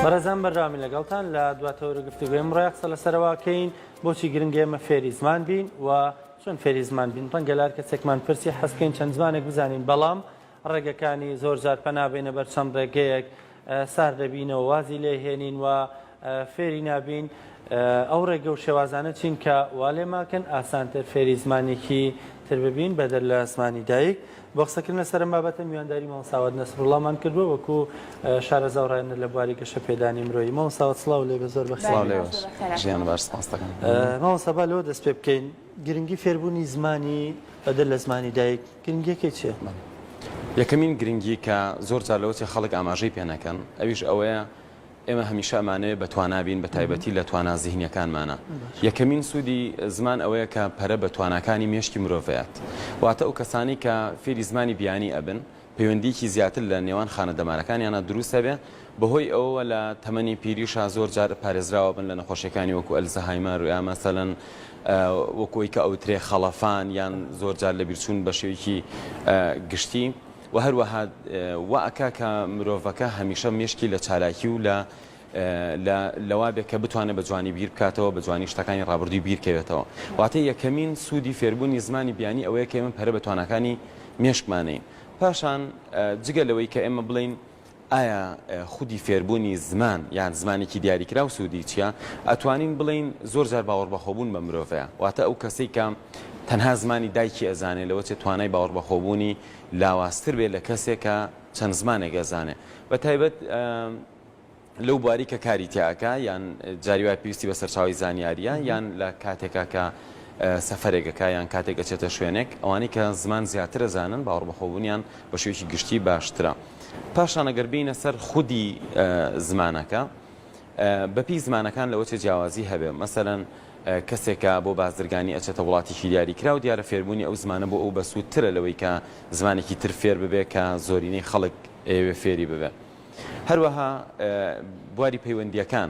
بەڕێزان بەرداوامی لەگەڵتان لە دواتەوەرە گفتوگوێ ئەمڕۆ قسە لەسەرواکەین بۆچی گرنگە ئێمە فێری زمان بین و چۆن فێری زمان بین ڕەنگە لار کەسێکمان پرسی حەزکەین چەند زمانێک بزانین بەڵام ڕێگەکانی زۆر جار پەنابێنە بەر چەند ڕێگەیەک سار دەبینەوە وازی لێهێنین و فێری نابین ئەو ڕێگە و شێوازانە چین کە وا لێم ئاکەن ئاسانتر فێری زمانێکی تر ببین بەدەر لە زمانی دایک. بۆ قسەکردن لەسەر ئەم بابەتە میوانداری مامۆستا ساوەت نەسروڵڵامان کردووە وەکو شارەزا و ڕاهێنەر لە بواری گەشەپێدانی مرۆیی. مامۆستا ساوەت سڵاو لێبێ زۆر بە خێر بێیت. ژیان بەخێر سپاستەکەم. مامۆستا با لەوە دەست پێ بکەین گرنگی فێربوونی زمانی بەدەر لە زمانی دایک گرنگییەکەی چییە؟ یەکەمین گرنگی کە زۆر جار لەوە چێ خەڵک ئاماژەی پێ نەکەن ئەویش ئەوەیە ئێمە هەمیشە ئەمانەوێ بە توانا بین بە تایبەتی لە توانا زیهنیەکانمانا یەکەمین سوودی زمان ئەوەیە کە پەرە بە تواناکانی مێشکی مرۆڤ ئەیات واتە ئەو کەسانەی کە فێری زمانی بیانی ئەبن پەیوەندیکی زیاتر لە نێوان خانە دەمارەکانیانە دروست ئەبێ بەهۆی ئەوەوە لە تەمەنی پیریشا زۆر جار پارێزراوە بن لە نەخۆشیەکانی وەکو ئەلزەهایمەر یا مەسەلەن وەکۆی کە ئەوترێ خەڵەفان یان زۆر جار لە بیرچوون بە شێوەیەکی گشتی وە هەروەها وا ئەکا کە مرۆڤەکە هەمیشە مێشکی لە چالاکی و لە لە لەوا بێ کە بتوانێت بە جوانی بیر بکاتەوە بە جوانی شتەکانی ڕابردووی بیرکەوێتەوە واتە یەکەمین سوودی فێربوونی زمانی بیانی ئەوەیە کە ئێمە پەرە بە تواناکانی مێشکمانین پاشان جگە لەوەی کە ئێمە بڵێین ئایا خودی فێربوونی زمان یان زمانێکی دیاریکراو سوودی چییە؟ ئەتوانین بڵێین زۆر جار باوەڕبەخۆبوون بە مرۆڤەیە، واتە ئەو کەسەی کە تەنها زمانی دایکی ئەزانێ لەوە چێ توانای باوەڕبەخۆبوونی لاوازتر بێ لە کەسێ کە چەند زمانێک ئەزانێ بە تایبەت لەو بواری کە کاری تیا ئەکا یان جاری وایە پێویستی بە سەرچاوی زانیاریە یان لە کاتێکا کە سەفرێکەکە یان کاتێک ئەچێتە شوێنێک ئەوانەی کە زمان زیاتر ئەزانن باوەڕبەخۆبوونیان بە شێوەیەکی گشتی باشترە. پاشان ئەگەر بێینە سەر خودی زمانەکە، بە پێی زمانەکان لەوە چێ جیاوازی هەبێ. مەسەلەن کەسێک کە بۆ بازرگانی ئەچێتە وڵاتێکی دیاری کراو، دیارە فێربوونی ئەو زمانە بۆ ئەو بەسوودترە لەوەی کە زمانێکی تر فێر ببێ کە زۆرینەی خەڵک ئەیەوێ فێری ببێ. هەروەها بواری پەیوەندییەکان.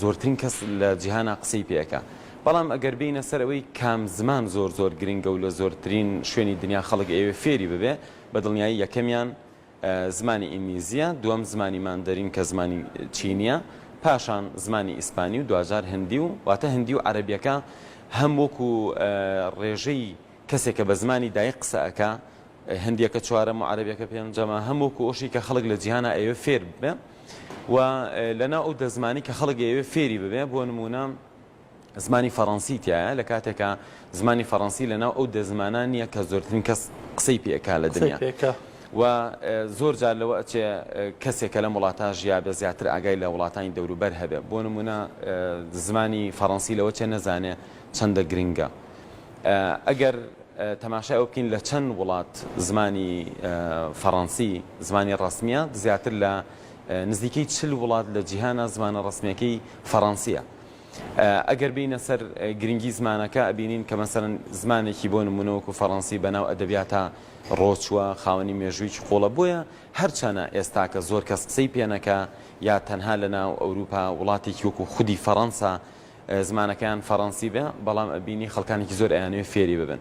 زۆرترین کەس لە جیهانا قسەی پێ ئەکا بەڵام ئەگەر بێینە سەر ئەوەی کام زمان زۆر زۆر گرنگە و لە زۆرترین شوێنی دنیا خەڵک ئەیەوێ فێری ببێ بە دڵنیایی یەکەمیان زمانی ئینگلیزیە دووەم زمانی ماندەرین کە زمانی چینیە پاشان زمانی ئیسپانی و دواجار هندی و واتە هندی و عەرەبیەکە هەم وەکو ڕێژەی کەسێکە بە زمانی دایک قسە ئەکا هندیەکە چوارەم و عەرەبیەکە پێنجەمە هەم وەکو ئەوشی کە خەڵک لە جیهانا ئەیەوێ فێر ببێ و لەناو ئەو دە زمانی کە خەڵک ئەیەوێ فێری ببێ بۆ نموونە زمانی فەڕەنسی تایە لە کاتێکا زمانی فەڕەنسی لەناو ئەو دە زمانان نییە کە زۆرترین کەس قسەی پێکا لە دنیا و زۆر جار لەوە ئەچێ کەسێک کە لەم وڵاتە ژیابێ زیاتر ئاگای لە وڵاتانی دەوروبەر هەبێ بۆ نمونە زمانی فەڕەنسی لەوە چێ نەزانێ چەندە گرنگە ئەگەر تەماشای ئەوە بکەین لە چەند وڵات زمانی فەڕەنسی زمانی ڕسمیە زیاتر لە نزیکەی چل وڵات لە جیهانە زمانە ڕسمیەکەی فەڕەنسیە. ئەگەر بینە سەر گرنگی زمانەکە ئەبینین کە مەسەرن زمانێکی بۆ نمونەوەکو فەڕەنسی بەناو ئەدەبیاتە ڕۆچووە خاوەنی مێژوویی قوڵە بۆیە هەرچەنە ئێستاکە زۆر کەس قسەی پێنەکە یا تەنها لە ناو ئەوروپا وڵاتێکی وەکو خودی فەڕەنسا زمانەکەیان فەڕەنسی بێ بەڵام ئەبینی خەڵکانێکی زۆر ئەیانەوێ فێری ببن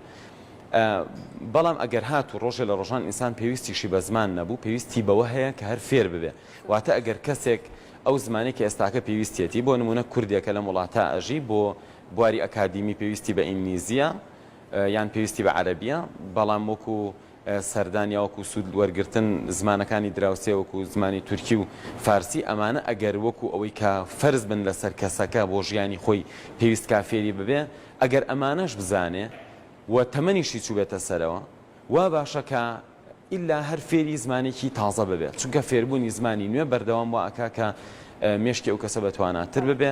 بەڵام ئەگەر هاتوو ڕۆژێ لە ڕۆژان ئینسان پێویستیشی بە زمان نەبوو پێویستی بەوە هەیە کە هەر فێر ببێ واتە ئەگەر کەسێک ئەو زمانی کە ئێستاکە پێویستێتی بۆ نمونە کوردێکە لەم وڵاتە ئەژی بۆ بواری ئەکادیمی پێویستی بە ئینگلیزیە یان پێویستی بە عەرەبیە بەڵام وەکو سەردان یا وەکو سوود وەرگرتن، زمانەکانی دراوسێ وەکو زمانی تورکی و فارسی، ئەمانە ئەگەر وەکو ئەوەی کە فەرز بن لەسەر کەسەکە بۆ ژیانی خۆی پێویست کا فێری ببێ، ئەگەر ئەمانەش بزانێ و تەمەنیشی چووبێتە سەرەوە، وا باشە کە ئیلا هەر فێری زمانێکی تازە ببێ، چونکە فێربوونی زمانی نوێ بەردەوام وا ئەکا کە مێشکی ئەو کەسە بەتواناتر ببێ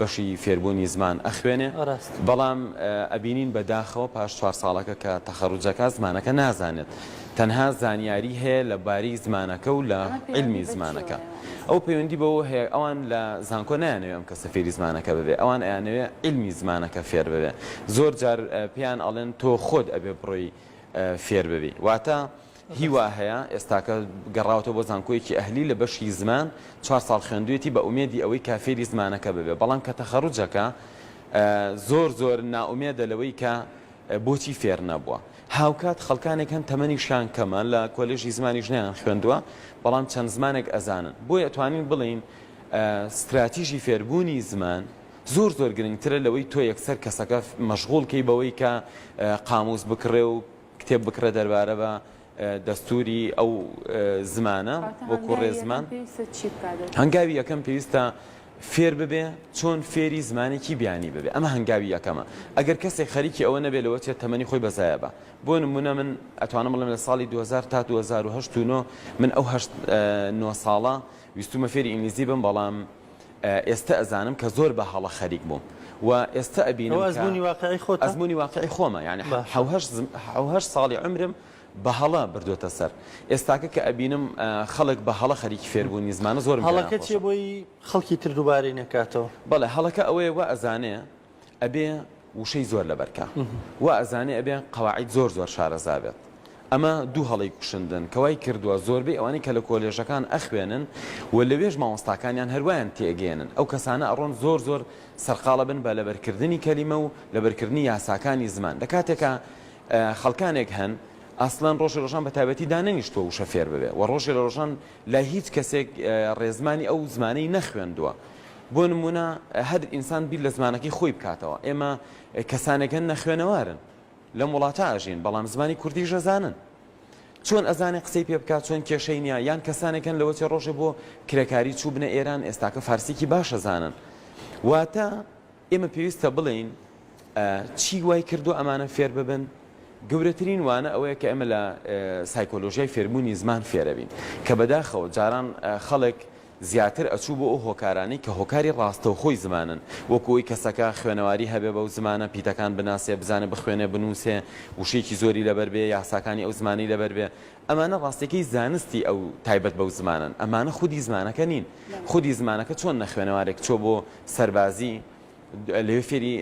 بەشی فێربوونی زمان ئەخوێنێ ڕاستە. بەڵام ئەبینین بە داخەوە پاش چوار ساڵەکە کە تەخەڕوج ئەکا زمانەکە نازانێت تەنها زانیاری هەیە لە باری زمانەکە و لە ئەمە پەیوەندی عیلمی بە چی زمانەکە هەیە؟ ئەوە پەیوەندی بەوە هەیە ئەوان لە زانکۆ نایانەوێ ئەم کەسە فێری زمانەکە ببێ ئەوان ئەیانەوێ عیلمی زمانەکە فێر ببێ زۆر جار پێیان ئەڵێن تۆ خۆت ئەبێ بڕۆی فێر ببی واتە هی وا هەیە ئێستاکە گەڕاوەتەوە بۆ زانکۆیەکی ئەهلی لە بەشی زمان چوار ساڵ خوێندویەتی بە ئومێدی ئەوەی کا فێری زمانەکە ببێ بەڵام کە تەخەروجەکە زۆر زۆر نائومێدە لەوەی کە بۆچی فێر نەبووە هاوکات خەڵکانێک هەن تەمەنیشیان کەمە لە کۆلێژی زمانیش نیان خوێندووە بەڵام چەند زمانێک ئەزانن بۆیە ئەتوانین بڵین ستراتیژی فێربوونی زمان زۆر زۆر گرنگترە لەوەی تۆ یەکسەر کەسەکە مەشغول کەی بەوەی کە قاموس بکڕێ و کتێب بکڕێت دەربارە بە دەستووری ئەو زمانە وەکوو ڕێزمان. هەنگاوی یەکەم پێویستە فێر ببێ چۆن فێری زمانێکی بیانی ببێ ئەمە هەنگاوی یەکەمە ئەگەر کەسێک خەریکی ئەوە نەبێ لەوە چێت تەمەنی خۆی بەزایە بە بۆ نمونە من ئەتوانم بڵێم لە ساڵی 2000 تا 2009 من ئەو هەشت نۆ ساڵە ویستومە فێری ئینگلیزی بم بەڵام ئێستە ئەزانم کە زۆر بە هەڵە خەریک بووم و ئێستە ئەبینم کە ئەوە ئەزموونی واقعی خۆتە؟ ئەزموونی واقعی خۆمە یانی باشە. حەو هەشت زم- حەو هەشت ساڵی عومرم بە هەڵە بردووەتە سەر ئێستاکە کە ئەبینم ئا، خەڵک بە هەڵە خەریکی فێربوونی زمانە زۆرم پێ هەڵەکە چییە ناخۆشە بۆی خەڵکی تر دووبارەی نەکاتەوە؟ بەڵێ هەڵەکە ئەوەیە وا ئەزانێ ئەبێ وشەی زۆر لەبەر کا وا ئەزانێ ئەبێ قەواعید زۆر زۆر شارەزا بێت ئەمە دوو هەڵی کوشندن کەوای کردووە زۆربەی ئەوانەی کە لە کۆلێژەکان ئەخوێنن و لەوێش مامۆستاکانیان هەروایان تێگەێنن ئەو کەسانە ئەڕۆن زۆر زۆر سەرقاڵە بن بە لەبەرکردنی کەلیمە و لەبەرکردنی یاساکانی زمان لە کاتێکە خەڵکانێک هەن ئاسلان ڕۆژی ڕۆژان بە تابەتی دانەنیشتوە وشە فێر ببێ و ڕۆژی لە ڕۆژان لای هیچ کەسێک ڕێزمانی ئەو زمانەی نەخوێندووە بۆ نموونە هەر ئینسان بیر لە زمانەکەی خۆی بکاتەوە، ئێمە کەسانێک هەن نەخوێنەوارن، لەم وڵاتە ئەژین، بەڵام زمانی کوردیش ئەزانن. چۆن ئەزانێ قسەی پێ بکات، چۆن کێشەی نییە، یان کەسانێک هەن لەوەتێ ڕۆژێ بۆ کرێکاری چووبنە ئێران، ئێستاکە فارسیی باش ئەزانن. واتە ئێمە پێویستە بڵێین چی وای کردووە ئەمانە فێر ببن، گەورەترین وانە ئەوەیە کە ئێمە لە سایکۆلۆژیای فێربوونی زمان فێرەبین کە بەداخەوە جاران خەڵک زیاتر ئەچوو بۆ ئەو هۆکارانەی کە هۆکاری ڕاستەوخۆی زمانن وەکوی کەسەکە خوێنەواری هەبێ بەو زمانە پیتەکان بناسێ بزانێ بخوێنێ بنووسێ وشێکی زۆری لەبەر بێ یاساکانی ئەو زمانی لەبەر بێ ئەمانە ڕاستیەکەی زانستی ئەو تایبەت بەو زمانەن، ئەمانە خودی زمانەکە نین، خودی زمانەکە چۆن نەخوێنەوارێک چووە بۆ سەربازی لەوێ فێری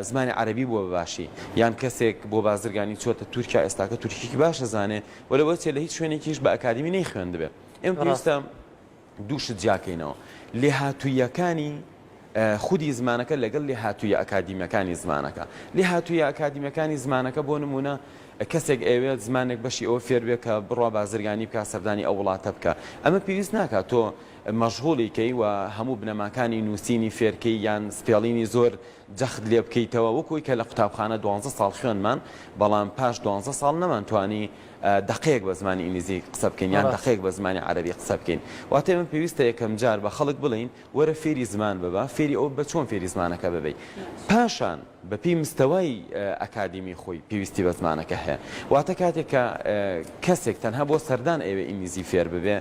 زمانی عەرەبی بووە بەباشی یان کەسێک بۆ بازرگانی چۆتە تورکیا ئێستاکە تورکیکی باشە زانێ وە لەوەچێ لە هیچ شوێنێکیش بە ئەکادمی نەی خوێندبێ ئێم پێویستە دوو شت جیاکەینەوە، لێهاتووییەکانی خودی زمانەکە لەگەڵ لێهاتوویە ئەکادیمیەکانی زمانەکە. لێهاتوویە ئەکادیمیەکانی زمانەکە بۆ نمونە کەسێک ئەوێت زمانێک بەشی ئەوە فێربێ کە بڕوا بازرگانی بکە سەردانی ئەو وڵاتە بکە ئەمە پێویست ناکات تۆ مەژغوڵیکەی و هەموو بنەماکانی نووسینی فێرکەی یان سپێڵینی زۆر جەخت لێ بکەیتەوە وەکو ئەوی کە لە قوتابخانە دوانزە ساڵ خوێندمان بەڵام پاش دوانزە ساڵ نەمان توانی دەقەیەک بە زمانی ئینگلیزی قسە بکەین یان دەقەیەک بە زمانی عەرەبی قسە بکەین واتە من پێویستە یەکەم جار بە خەڵک بڵین وەرە فێری زمان ببە فێری ئەو بە چۆن فێری زمانەکە ببی پاشان بەپی مستەوای ئەکادیمی خۆی پێویستی بە زمانەکە هەیە واتە کاتێک کە کەسێک تەنها بۆ سەردان ئەوێ ئینگلیزی فێر ببێ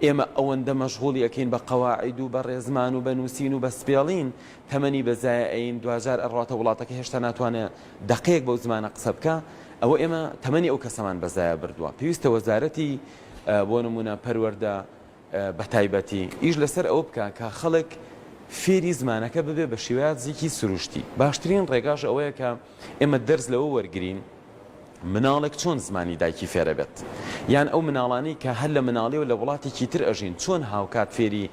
ئێمە ئەوەندە مەشغوڵی ئەەکەین بە قەواعد و بە ڕێزمان و بە نووسین و بە سپێڵین تەمەنی بە زایە ئەیین دواجار ئەڕواتە وڵاتەکە هێشتا ناتوانێ دەقەیەک بەو زمانە قسە بکا ئەوە ئێمە تەمەنی ئەو کەسەمان بە زایە بردوە پێویستە وەزارەتی بۆ نمونە پەروەردە بەتایبەتی ئیش لەسەر ئەوە بکا کە خەڵک فێری زمانەکە ببێ بە شێوازیکی سروشتی باشترین ڕێگاش ئەوەیە کە ئێمە دەرس لەوە وەرگین مناڵێک چۆن زمانی دایکی فێرەبێت؟ یان ئەو مناڵانەی کە هەر لە مناڵیەوە لە وڵاتێکی تر ئەژین چۆن هاوکات فێری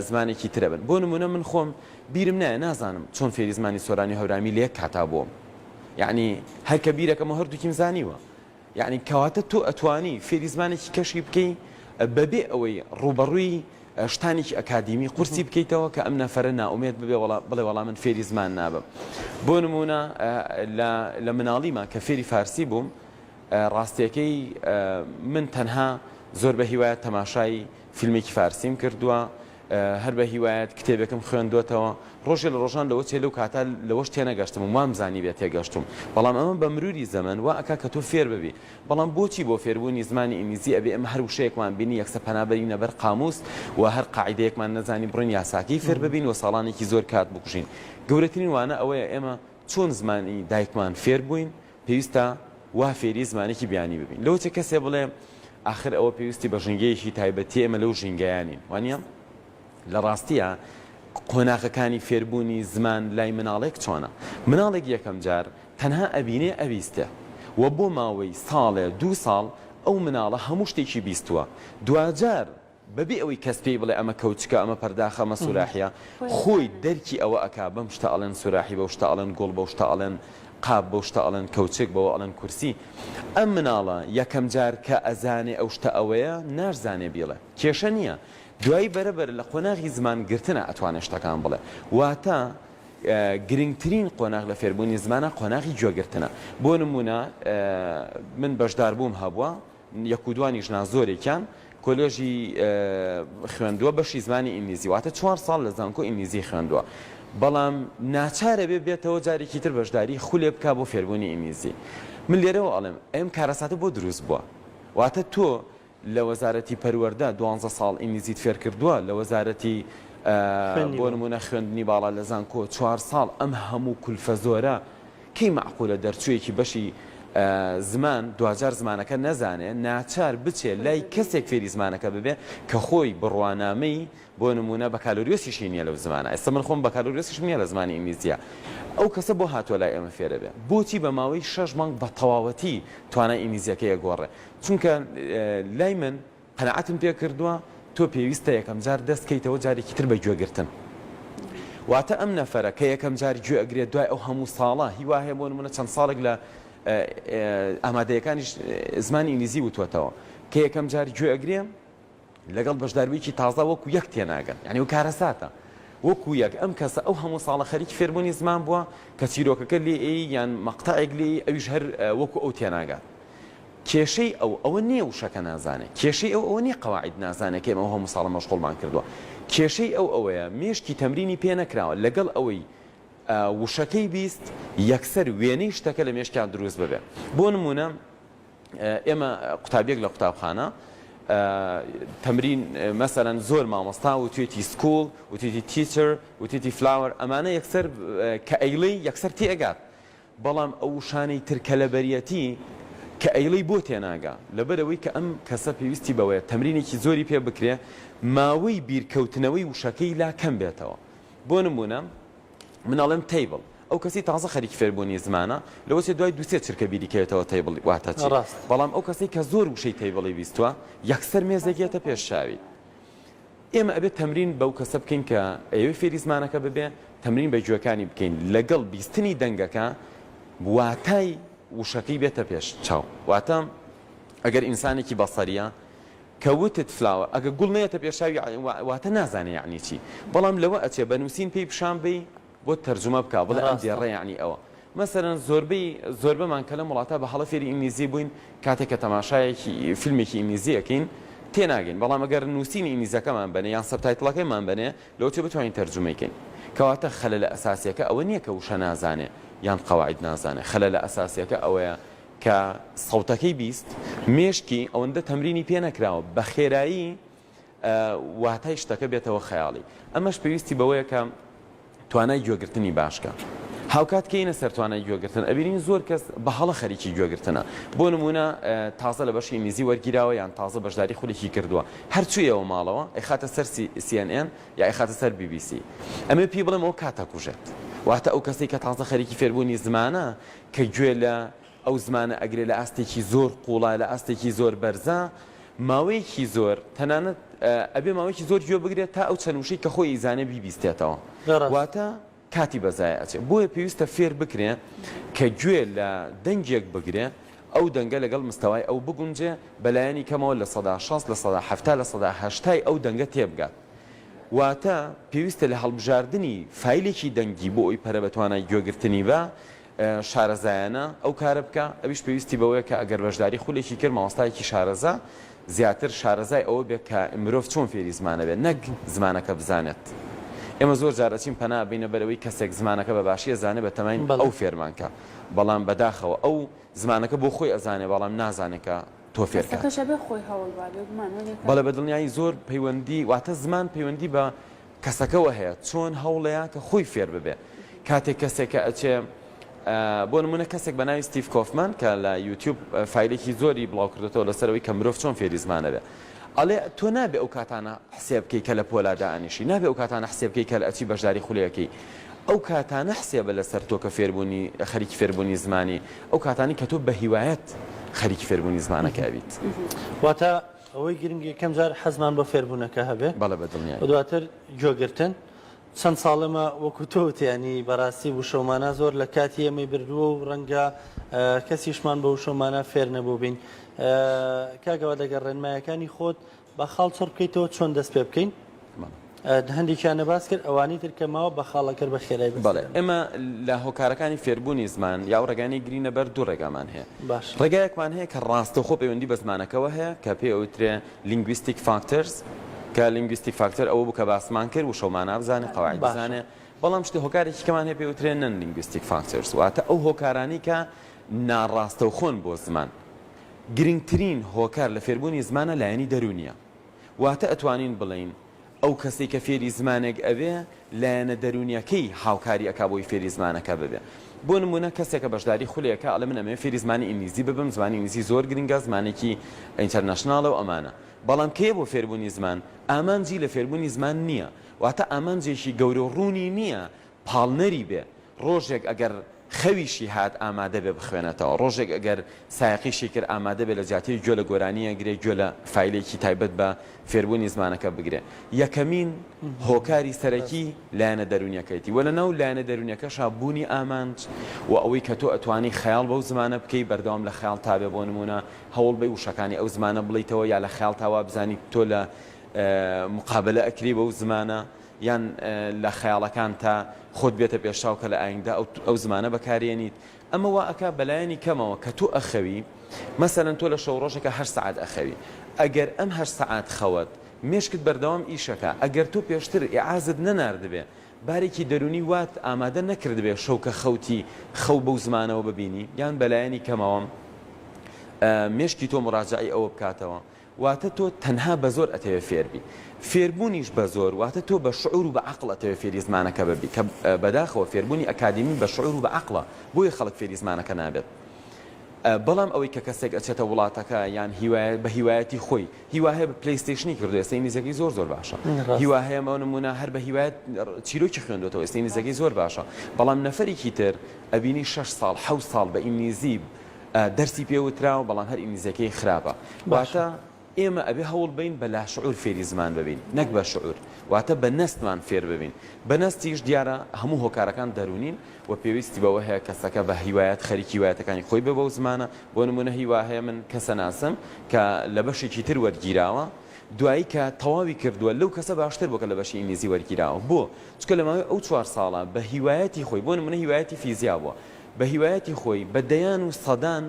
زمانێکی تر ئەبن؟ بۆ نمونە من خۆم بیرم نایە نازانم چۆن فێری زمانی سۆرانی و هەورامی لە یەک کاتا بووم یعنی هەر کە بیرەکەمە هەردووکیم زانیوە یعنی کەواتە تۆ ئەتوانی فێری زمانێکی کەشی بکەی بەبێ ئەوەی ڕووبەڕووی شتانێکی ئەکادیمی قورسی بکەیتەوە کە ئەم نەفەرە نائومێد ببێ و بڵێ وەڵا من فێری زمان نابم. بۆ نموونە لە مناڵیما کە فێری فارسی بووم ڕاستییەکەی من تەنها زۆر بە هیوایەت تەماشای فیلمێکی فارسیم کردووە هەر بە هیوایەت کتێبێکم خوێندوەتەوە ڕۆژێ لە ڕۆژان لەوە چێ لەو کاتا لەوەش تێنەگەشتم وام زانی بێت تێگەشتم بەڵام ئەمە بە مروری زەمن و ئەک کە تۆ فێر ببی بەڵام بۆچی بۆ فێربوونی زمانی ئینگلیزی ئەبێ ئێمە هەر وشەیەکمان بینی یەکسەر پەنا بەرینە بەر قامووس و هەر قاعیدەیەکمان نەزانی بڕۆین یاساکەی فێر ببین و ساڵانێکی زۆر کات بکوژین؟ گەورەترین وانە ئەوەیە ئێمە چۆن زمانی دایکمان فێر بووین پێویستە وا فێری زمانێکی بیانی ببین. لەوە چێ کەسێ بڵێ ئاخر ئەوە پێویستی بە ژینگەیەکی تایبەتیە ئێمە لەو ژینگەیە نین. وانیە؟ لە ڕاستییا قۆناغەکانی فێربوونی زمان لای مناڵێک چۆنە؟ مناڵێک یەکەم جار تەنها ئەبینێ ئەبیستێ و بۆ ماوەی ساڵێ دوو ساڵ ئەو مناڵە هەموو شتێکی بیستووە دواجار بە بێ ئەوەی کەس پێی بڵێ ئەمە کەوچکە ئەمە پەرداخە ئەمە سوراحیە خۆی دەرکی ئەوە ئەکا بەم شتە ئەڵێن سوراحی بەو شتە ئەڵێن گوڵ بەو شتە ئەڵێن قاپ بەو شتە ئەڵێن کەوچک بەوە ئەڵێن کورسی ئەم مناڵە یەکەم جار کە ئەزانێ ئەو شتە ئەوەیە ناشزانێ بیڵێ کێشە نییە دوایی بەرە بەرە لە قۆناغی زمان گرتنا ئەتوانێ شتەکان بڵێ واتە گرنگترین قۆناغ لە فێربوونی زمانا قۆناغی گوێ گرتنە بۆ نموونە من بەشدار بووم هەبووە یەک و دوانیش نا زۆرێکیان کۆلێژی خوێندووە بەشی زمانی ئینگلیزی واتە چوار ساڵ لە زانکۆ ئینگلیزی خوێندووە بەڵام ناچارە بێ بێتەوە جارێکی تر بەشداری خولێ بک بۆ فێربوونی ئینگلیزی من لێرەوە ئەڵێم ئەم کارەساتە بۆ دروست بووە واتە تۆ لە وەزارەتی پەروەردە دوانزە ساڵ ئینگلیزیت فێرکردووە لە وەزارەتی بۆ نموونە خوێندنی باڵا لە زانکۆ چوار ساڵ ئەم هەموو کولفە زۆرە کەی مەعقولە دەرچوویەکی بەشی زمان دواجار زمانەکە نەزانێ ناچار بچێ لای کەسێک فێری زمانەکە ببێ کە خۆی بڕوانامەی بۆ نموونە بەکالۆریۆسیشی نییە لەو زمانە ئێستا من خۆم بەکالۆریۆسیشم نییە لە زمانی ئینگلیزیە ئەو کەسە بۆ هاتووە لای ئێمە فێرەبێ بۆچی بە ماوەی شەش مانگ بە تەواوەتی توانای ئینگلیزیەکەی ئەگۆڕێ چونکە لای من قەناعەتم پێ کردووە تۆ پێویستە یەکەم جار دەست کەیتەوە جارێکی تر بە گوێ گرتن واتە ئەم نەفەرە کە یەکەم جار گوێ ئەگرێت دوای ئەو هەموو ساڵە هیوا هەیە بۆ نمونە چەند ساڵێک لە ئامادەیەکانیش زمانی ئینگلیزی وتوەتەوە کە یەکەم جار گوێ ئەگرێ لەگەڵ بەشدارویەکی تازە وەکو یەک تێناگەن یانی و کارەساتە وەکو یەک ئەم کەسە ئەو هەموو ساڵە خەریکی فێربوونی زمان بووە کە چیرۆکەکە لێ ئەی یان مەقتەعێک لێی ئەویش هەر وەکو ئەو تێناگات کێشەی ئەو ئەوە نییە وشەکە نازانێت کێشەی ئەو ئەوە نییە قواعد نازانێت کە ئەو هەموو ساڵە مەشغوڵمان کردووە کێشەی ئەو ئەوەیە مێشکی تەمرینی پێ نەکراوە لەگەڵ ئەوەی وشەکەی بیست یەکسەر وێنەی شتەکە لە مێشکیان دروست ببێت بۆ نمونە ئێمە قوتابیەک لە قوتابخانە تەمرین مەسەرەن زۆر مامۆستا و توێتی سکوڵ و توێتی تیچر و توێتی فلاوەر ئەمانە یەکسەر کە ئەیڵی یەکسەر تێگات بەڵام ئەو شانەی ترکە لە بەریەتی کە ئەیڵی بۆ تێناگا لەبەرەوەی کە ئەم کەسە پێویستی بەوەیە تەمرینێکی زۆری پێ بکرێ ماوەی بیرکەوتنەوەی وشەکەی لا کەم بێتەوە بۆ نمونە من ئەڵێم تەیبڵ ئەو کەسی تازە خەریکی فێربوونی زمانە لەوە چێ دوای دوو سێ چرکە بیری کەوێتەوە تەیبڵ واتە چی ڕاست بەڵام ئەو کەسەی کە زۆر وشەی تەیبڵی بیستووە یەکسەر مێزێک یەتە پێش چاوی ئێمە ئەبێت تەمرین بەو کەسە بکەین کە ئەوێ فێری زمانەکە ببێ تەمرین بە گوێکانی بکەین لەگەڵ بیستنی دەنگەکە واتای وشەکەی بێتە پێش چاو واتە ئەگەر ئینسانێکی بەسەریە کە وتت فلاوە ئەگە گوڵ نەیەتە پێشچاوی واتە نازانێ یەعنی چی بەڵام لەوە ئەچێ بە نوسین پێی پیشان بەی بۆت تەرجومە بکا بڵێ ئەم دێڕە یەعنی ئەوە مەسەلەن زۆربەی زۆربەمان کە لەم وڵاتە بە هەڵە فێری ئینگلیزی بووین کاتێک کە تەماشایەکی فیلمێکی ئینگلیزی ئەکەین تێناگەین بەڵام ئەگەر نوسینی ئینگلیزەکەمان بەنێ یان سەبتایتڵەکەیمان بەنێ لەوە چێ بتوانین تەرجومەی کەین کەواتە خەلەلە ئەساسیەکە ئەوە نییە کە وشە نازانێ یان قەواعید نازانێ خەلەلە ئەساسیەکە ئەوەیە کە سەوتەکەی بیست مێشکی ئەوەندە تەمرینی پێ نەکراوە بە خێرایی واتای شتەکە بێتەوە خەیاڵی ئەمەش پێویستی بەوەیە کە توانای گوێگرتنی باشکە هاوکات کەینە سەر توانای گوێگرتن ئەبینین زۆر کەس بە هەڵە خەریکی گوێگرتنە بۆ نمونە تازە لە بەشی ئینگلیزی وەرگیراوە یان تازە بەشداری خولێکی کردووە هەرچوویەوە ماڵەوە ئەخاتە سەر CNN یا ئەخاتە سەر BBC ئەمێ پێی بڵێم ئەو کاتە کوژێت واتە ئەو کەسی کە تازە خەریکی فێربوونی زمانە کە گوێ لە ئەو زمانە ئەگرێ لە ئاستێکی زۆر قوڵا لە ئاستێکی زۆر بەرزە ماوەیەکی زۆر تەنانەت ئەبێ ماوەیەکی زۆر گوێ بگرێت تا ئەو چەند وشەی کە خۆی ئیزانێ بیبیستێتەوە واتە کاتی بەزای ئەچێ بۆیە پێویستە فێر بکرێ کە گوێ لە دەنگێک بگرێ ئەو دەنگە لەگەڵ مستەوای ئەو بگونجێ بەلایەنی کەمەوە لە سەدا شەست لە سەدا حەفتا لە سەدا هەشتای ئەو دەنگە تێبگات واتە پێویستە لە هەڵبژاردنی فایلێکی دەنگی بۆ ئەوی پەرە بە توانای گوێگرتنی بە شارەزایانە ئەو کارە بکا، ئەویش پێویستی بەوەیە کە ئەگەر بەشداری خولێکی کرد مامۆستایەکی شارەزا زیاتر شارەزای ئەوە بێت کە مرۆڤ چۆن فێری زمانە بێت نەک زمانەکە بزانێت. ئێمە زۆر جار ئەچین پەنا ئەبەینە بەر ئەوەی کەسێک زمانەکە بە باشی ئەزانێت بە تەمای ئەو فێرمان کا، بەڵام بەداخەوە ئەو زمانەکە بۆ خۆی ئەزانێت بەڵام نازانێت کە تۆ فێر کات. قسەکەش ئەبێ خۆی هەوڵ با بێگومان وە نەکات. بەڵێ بەدڵنیایی زۆر پەیوەندی واتە زمان پەیوەندی بە کەسەکەوە هەیە چۆن هەوڵەیە کە خۆی فێر ببێ کاتێک کەسێک کە ئەچێ بۆ نمونە کەسێک بە ناوی ستیف کۆفمان کە لە یوتیوب فیلێکی زۆری بڵاو کردێتەوە لەسەرەوەی کە مرۆڤ چۆن فێری زمانەبێ ئەڵێ تۆ نابێ ئەو کاتانە حسێ بکەی کە لە پۆلادا ئەنیشی نابێ ئەو کاتانە حسێ بکەی کە لە ئەچی بەشداری خولەکەی ئەو کاتانە حسێبە لەسەر تۆ کە فێربوونی خەریکی فێربوونی زمانی ئەو کاتانی کە تۆ بەهیوایت خەریکی فێربوونی زمانەکە ئەبیت. واتە ئەوەی گرنگ یەکەم جار حەزمان بۆ فێربوونەکە هەبێ بەڵێ بە دڵنیایی. و دواتر گۆگرتن چەند ساڵەمە وەکو تۆ وت یانی بەڕاستی وشەو مانا زۆر لە کاتی ئێمەی بردووە و ڕەنگە کەسیشمان بە وشەو مانا فێر نەبووبین کاک ئەوە لەگەڵ ڕێنمایەکانی خۆت با خاڵ چڕ بکەیتەوە چۆن دەست پێ بکەین هەندێکیان نەباس کرد ئەوانی تر کە ماوە بە خاڵەکەر بە خێرای بەس بەڵێ ئێمە لە هۆکارەکانی فێربوونی زمان یا و ڕێگانەی گرینە بەر دوو ڕێگامان هەیە باش ڕێگایەکمان هەیە کە ڕاستەخۆ پەیوەندی بە زمانەکەەوە هەیە کە پێ ئەوترێ لینگویستیک فاکتەرز کە لینگویستیک فاکتەر ئەوە بوو کە باسمان کرد وشەمان نابزانێت قەواعد بزانێ بەڵام شتی هۆکارێکی کەمان هەیە پێ وترێنن لینگویستیک فاکتەرز واتە ئەو هۆکارانی کە ناڕاستەوخۆن بۆ زمان گرنگترین هۆکار لە فێربوونی زمانە لایەنی دەروونیە واتە ئەتوانین بڵێین ئەو کەسەی کە فێری زمانێک ئەبێ لایەنە دەروونیەکەی هاوکاری ئەکا بۆی فێری زمانەکە ببێ بۆ نموونە کەسێکە بەشداری خولێ ئەکا ئەڵێ من ئەمەوێ فێری زمانی ئینگلیزی ببم زمانی ئینگلیزی زۆر گرنگە زمانێکی ئینتەرنەشناڵە و ئەمانە بەڵام کێیە بۆ فێربوونی زمان ئامانجی لە فێربوونی زمان نییە واتە ئامانجێکی گەورە و ڕوونی نییە پاڵنەری بێ، ڕۆژێک ئەگەر خەویشی هات ئامادە بێ بخوێنێتەوە، ڕۆژێک ئەگەر سایەقیشی کرد ئامادە بێ لە جیاتی گوێ لە گۆرانییەک گرێ گوێ لە فایلێکی تایبەت بە فێربوونی زمانەکە بگرێ یەکەمین هۆکاری سەرەکی لایەنە دەروونیەکەیەتی وە لەناو لایەنە دەروونیەکەشا بوونی ئامانج و ئەوەی کە تۆ ئەتوانی خەیاڵ بەو زمانە بکەی بەردەوام لە خەیاڵ تابێ بۆ نمونە هەوڵ بەی وشەکانی ئەو زمانە بڵیتەوە یا لە خەیاڵ تاوا بزانی تۆ لە مقابلە ئەکری بەو زمانە یان لە خەیاڵەکانتا خۆت بێتە پێشچاو کە لە ئایندە ئەو زمانە بەکاریێنیت، ئەمە وا ئەکا بە لایەنی کەمەوە کە تۆ ئەخەوی، مەسەلەن تۆ لە شەو ڕۆژەکا هەشت سەعات ئەخەوی، ئەگەر ئەم هەشت سەعات خەوەت، مێشکت بەردەوام ئیش ئەکا، ئەگەر تۆ پێشتر ئیعازت نەناردبێ، بارێکی دەروونی وات ئامادە نەکردبێ شەو کە خەوتی خەو بەو زمانەوە ببینی، یان بە لایەنی کەمەوە مێشکی تۆ موراجەعەی ئەوە بکاتەوە، واتە تۆ تەنها بە زۆر ئەتەوێ فێر بی. فێربوونیش بە زۆر واتە تۆ بە شعور و بە عەقڵ ئەتەوێ فێری زمانەکە ببی کە بەداخەوە فێربوونی ئەکادیمی بە شعور و بە عەقڵە بۆیە خەڵک فێری زمانەکە نابێت. بەڵام ئەوەی کە کەسێک ئەچێتە وڵاتەکە یان هیوایە بە هیوایەتی خۆی هیوا هەیە بە پلەیستەیشنی کردو ئێستا ئینگلیزیەکەی زۆر زۆر باشە ڕاست هیوا هەیە بۆ نموونە هەر بە هیوایەت چیرۆکی خوێندوەتەوە ئێستا ئینگلیزیەکەی زۆر باشە بەڵام نەفەرێکی تر ئەبینی شەش ساڵ حەوت ساڵ بە ئینگلیزی دەرسی پێ وتراوە بەڵام هەر ئینگلیزیەکەی خراپە واتە ئێمە ئەبێ هەوڵ بین بە لاشعور فێری زمان ببین نەک بە شعور واتە بە نەستمان فێر ببین بە نەستیش دیارە هەموو هۆکارەکان دەرونین و پێویستی بەوە هەیە کەسەکە بە هیوایەت خەریکی وایەتەکانی خۆی بێ بەو زمانە بۆ نمونە هیوا هەیە من کەسە ناسم کە لە بەشێکی تر وەرگیراوە دوایی کە تەواوی کردووە لەو کەسە باشتر بۆکە لە بەشی ئینگلیزی وەرگیراوە بۆ چکە لە ماوەی ئەو چوار ساڵە بە هیوایەتی خۆی بۆ نمونە هیوایەتی فیزیا بووە بە هیوایەتی خۆی بە دەیان و سەدان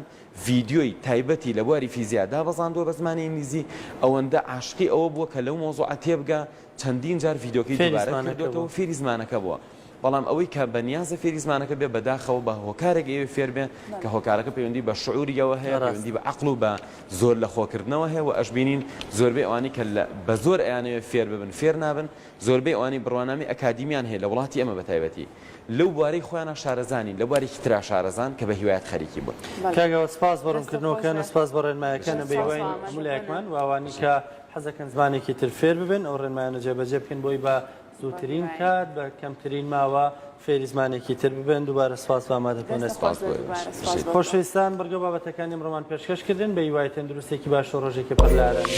ڤیدیۆی تایبەتی لە بواری فیزیا دابەزاندووە بە زمانی ئینگلیزی، ئەوەندە عاشقی ئەوە بووە کە لەو مەوزوعە تێبگا چەندین جار ڤیدیۆکەی دووبارە کردۆتەوە فێری زمانەکە بووە، بەڵام ئەوەی کە بە نیازە فێری زمانەکە بێ بەداخەوە بە هۆکارێک ئەیەوێ فێر بێ کە هۆکارەکە پەیوەندی بە شعوریەوە هەیە پەیوەندی بە عەقڵ و بە زۆر لە خۆ کردنەوە هەیە و ئەشبینین زۆربەی ئەوانەی کە لە بە زۆر ئەیانەوێ فێر ببن فێر نابن زۆربەی ئەوانەی بڕوانامەی ئەکادیمیان هەیە لە وڵاتی ئێمە بە تایبەتی لەو بوارەی خۆیانا شارەزا نین، لە بوارێکی ترا شارەزان کە بە هیوایت خەریکی بوون. کاک ئاوات سپاس بۆ ڕوونکردنەوەکەن، سپاس بۆ ڕێنمایەکانە، بە هیوای هەموو لایەکمان و ئەوانەی کە حەزەکەن زمانێکی تر فێر ببن ئەو ڕێنمایانە جێبەجێ بکەن بۆی بە زووترین کات بە کەمترین ماوە فێری زمانێکی تر ببن، دووبارە سپاس بۆ ئامادەبوونت. سپاس بۆ ئێوەش. خۆشەویستان بڕگە و بابەتەکانی ئەمڕۆمان پێشکەش کردن، بە هیوای تەندروستێکی باش و ڕۆژێکی پڕ لە ئارامی.